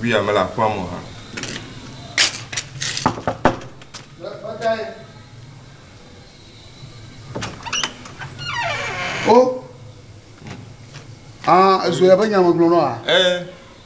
Via mele aƒea me hã. O. Ah, ezo ya be nya megblɔ nɔ a? Eh.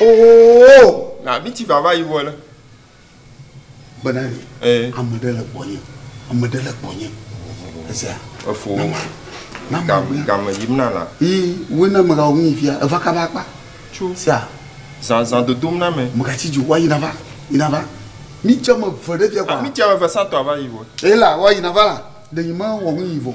Oh, na mi ti vava yi vɔ le. Gbena ni. Eh. Ame ɖe le gbɔnye. Ame ɖe le gbɔnye. Esia. Efo. Na ma. Na ma. Gam gam yim na la. Ii, wo na me ga wo mi fia. Eva ka ba kpa. Tso. Sia. Zan zan dodom na me. Me ga ti jo wa yi na va. Yi na va. Mi tse me ve ɖe fia kwa. Mi tse me ve sa tɔ va yi vɔ. Ela wa yi na va la. Ɖe yi me wɔ nu yi vɔ.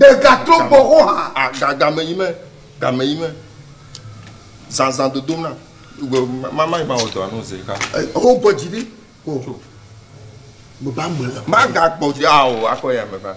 Ɖegatrɔ gbɔ xɔ hã. Game yi me, game yi me. Zanzan dodom na. Mama yi ma wɔ dɔ anu zi ka. O gbɔ dzi ɖi. Gbɔ ba mele. Ma ga gbɔ dzi awo akɔ ya me ba.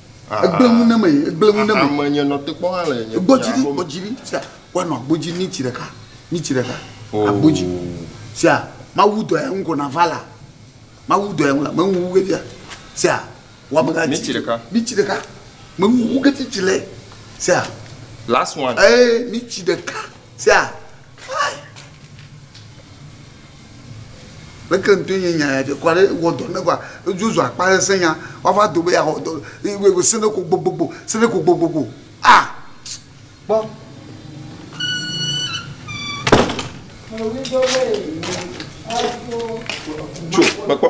egblẽ ŋu ne me egblẽ ŋu ne me. ame nye nɔtekpɔ hã le nye gbɔdzi ɖi gbɔdzi ɖi sia woanɔ agbodzi ni tsi ɖeka ni tsi ɖeka oh. agbodzi sia mawu dɔ ya ŋu kɔna va la mawu dɔ ya ŋu la meŋu wu kefia sia wɔmega ni tsi ɖeka ni tsi ɖeka meŋu wu ketsi tsi le sia last one ee ni tsi ɖeka sia. Leke ŋutɔe nye nya ya ɖe kura ɖe wɔ dɔ ne va edzo zu akpa sesẽ nya wava do be yeawɔ dɔ le se ɖe ko gbogbogbo se ɖe ko gbogbogbo a kpɔ. Tso mekpɔ.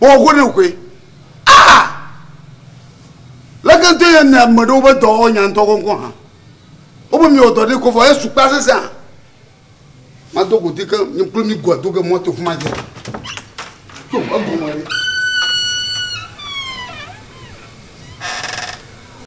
Wɔ go ne koe. Ah! Leke ŋutɔ ye nea ame ɖewo be dɔ wɔ nya ŋutɔ kɔŋkɔ hã? Wobe miwɔ dɔ ɖi ko vɔ esu kpa sese hã. Mado go di ke mi kple mi goa do ge mɔto fuma dze. To egome ɖi.